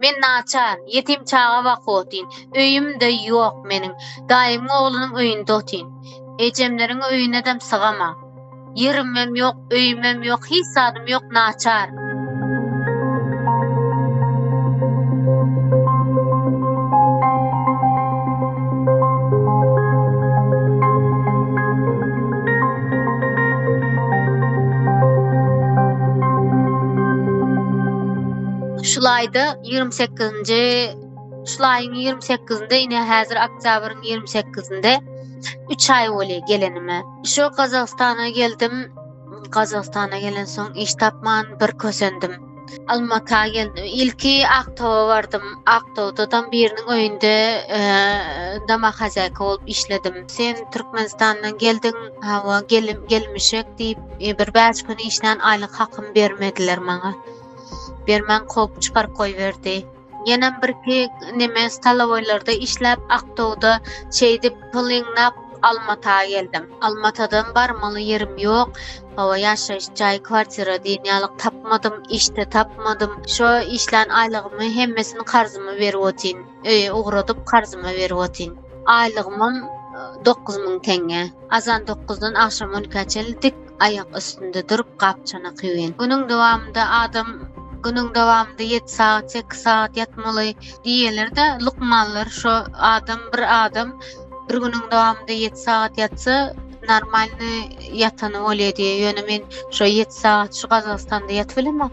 Men naçar, ýetim çaga bak otyn, öýüm-de ýok meniň, daýymyň oglunyň öýünde otyn. Ejemleriň öýünedem sygamag. Ýerimem ýok, öýümem ýok, hiç zadym ýok, naçar. Şul aýda 28-nji şul aýyň 28-nde ine häzir oktýabryň 28-nde 3 aý bolýar gelenime. Şu Gazagystana geldim. Gazagystana gelen soň iş tapman bir kösendim. Almata geldim. Ilki Aktowa bardym. Aktowda tam biriniň öýünde e, dama hazaýka bolup işledim. Sen Türkmenistandan geldiň, hawa gelim gelmişek diýip, e, bir bäş gün işlän aýlyk hakym bermediler maňa. Bermän kop çykaryp goýberdi. Ýenem birki neme stalowoýlarda işläp aktowda şeýdip pul ýygnap Almata geldim. Almatadan barmaly ýerim ýok. Hawa ýaşaýyş jaý kwartira diýen ýalyk tapmadym, işde tapmadym. Şo işlän aýlygymy hemmesini karzyma berip otyn. Öýe ugradyp karzyma berip otyn. Aýlygymam dokuz müň teňňe. Azan dokuzdan agşam on ikä çenli dik aýak üstünde durup gap-çanak ýuwýan. Günüň dowamynda adam günüň dowamynda ýedi sagat, sekiz sagat ýatmaly diýýärler-de, lukmanlar şo adam bir adam bir günüň dowamynda ýedi sagat ýatsa, normalny ýatany bolýar diýýär. Ýöne men şo ýedi sagat şu Gazagystanda ýatyp bilemok.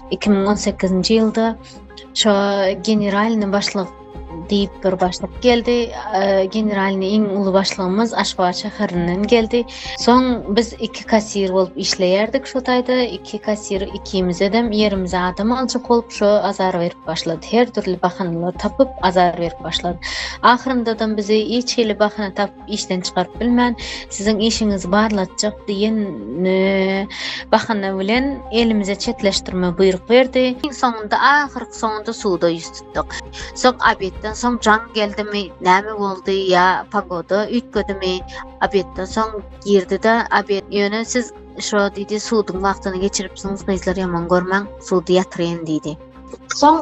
iki müň on sekizinji ýylda şo generalny başlyk diýip bir başlyk geldi. Generalny iň uly başlygymyz Aşgabat şäherinden geldi. Soň biz iki kassir bolup işleýärdik şo taýda. Iki kassir ikimize hem ýerimize adam aljak bolup şo azar berip başlady. Her dürli bahanalar tapyp azar berip başlady. Ahyrynda da bizi hiç hili bahana tap işden çykaryp bilmän, siziň işiňizi barlatjak diýen bahana bilen elimize çetleşdirme buýruk berdi. Iň soňunda ahyrky soňunda suda ýüz tutduk. Soň obedden soň jaň geldimi, näme boldy ýa pagoda üýtgedimi? Obedden soň girdi-de, obed ýöne siz şo diýdi, suduň wagtyny geçiripsiňiz, gyzlar ýaman görmäň, sudy ýatyryn diýdi. Soň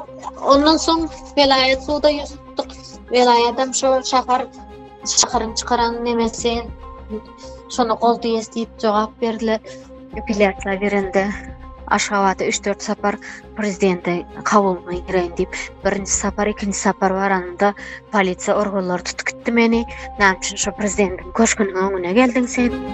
ondan soň welaýat suda ýüz tutduk. Welaýat hem şo şäher Şaharyň çykaran nemesi şony gol diýes diýip jogap berdiler. Apellýasiýa berende Aşgabada 3-4 sapar prezidente kabuluna gireýin diýip, birinji sapar, ikinji sapar baranda polisiýa organlary tutup gitdi meni. Näme üçin şu prezidentiň köşgüniň öňüne geldiň sen?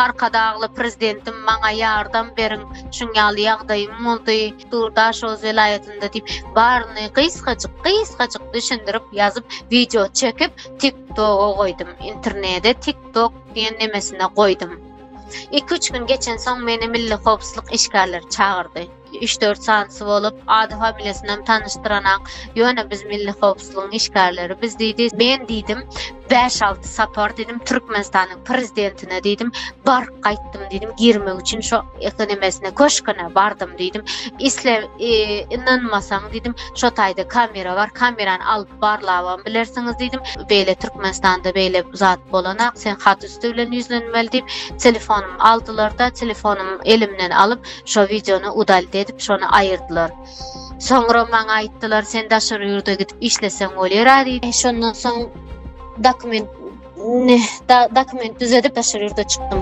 Arkadagly Prezidentim maňa ýardam beriň, şuň ýaly ýagdaýym boldy, Dur Daşoguz welaýatynda diýip, baryny gysgajyk, gysgajyk düşündirip ýazyp, wideo çekip, TikTok-a goýdum, internede TikTok diýen nemesine goýdum. Iki-üç gün geçensoň meni milli howpsuzlyk işgärleri çagyrdy. üç-dört sanysy bolup, ady familiýasynam tanyşdyranaň, ýöne biz milli howpsuzlygyň işgärleri, biz diýdi, men diýdim, bäş-alty sapar diýdim, Türkmenistanyň prezidentine diýdim, baryp gaýtdym diýdim, girmek üçin şo nemesine, köşgüne bardym diýdim, isle ynanmasaň diýdim, şo taýda kamera bar, kamerany alyp barlabam bilersiňiz diýdim, beýle Türkmenistanda beýle zat bolanak, sen hat üsti bilen ýüzlenmeli diýip, telefonumy aldylar-da, telefonumy elimden alyp, Şo wideony udalit edip şony aýyrdylar. Soňra maňa aýtdylar, sen daşary ýurda gidip işleseň bolýar-a diýip. Şondan soň dokument ne dokument düzedip daşary ýurda çykdym.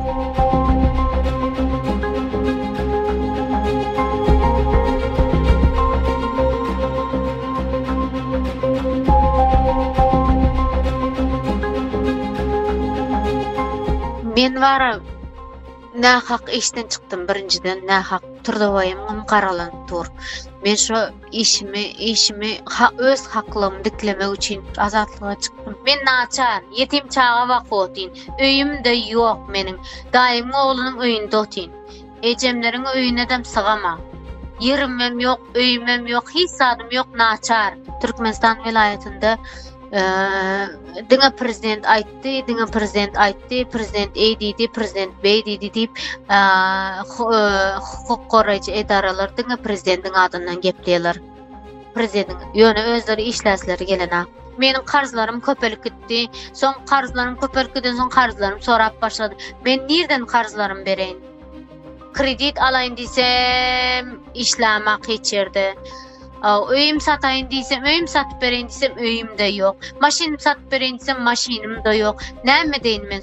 Men bara Nähak işden çykdym birinjiden nähak turdabaýymym garalanyp dur. Men şo işimi, işimi ha öz haklygymy diklemek üçin azatlyga çykdym. Men naçar, ýetim çaga bak otyn. Öýüm-de ýok meniň. Daýymyň oglunyň öýünde otyn. Ejemleriň öýüne-dem sygamam. Ýerimem ýok, öýümem ýok, hiç zadym ýok, naçar. Türkmenistan welaýatynda eee diňe prezident aýt aýtdy, diňe prezident aýtdy, prezident eý diýdi, prezident beý diýdi diýip, hukuk goraýjy edaralar diňe prezidentiň adyndan gepleýärler. Prezidentiň, ýöne özleri işläsleri gelenok. Meniň karzlarym köpelip gitdi. Soň karzlarym köpelip giden soň karzlarym sorap başlady. Men nirden karzlarym bereýin? Kredit alaýyn diýsem, işlämak hiç ýerde. Öýüm sataýyn diýsem, öýüm satyp bereýin diýsem, öýüm-de ýok. Maşynym satyp bereýin diýsem, maşynym-da ýok. Näme edeýin men?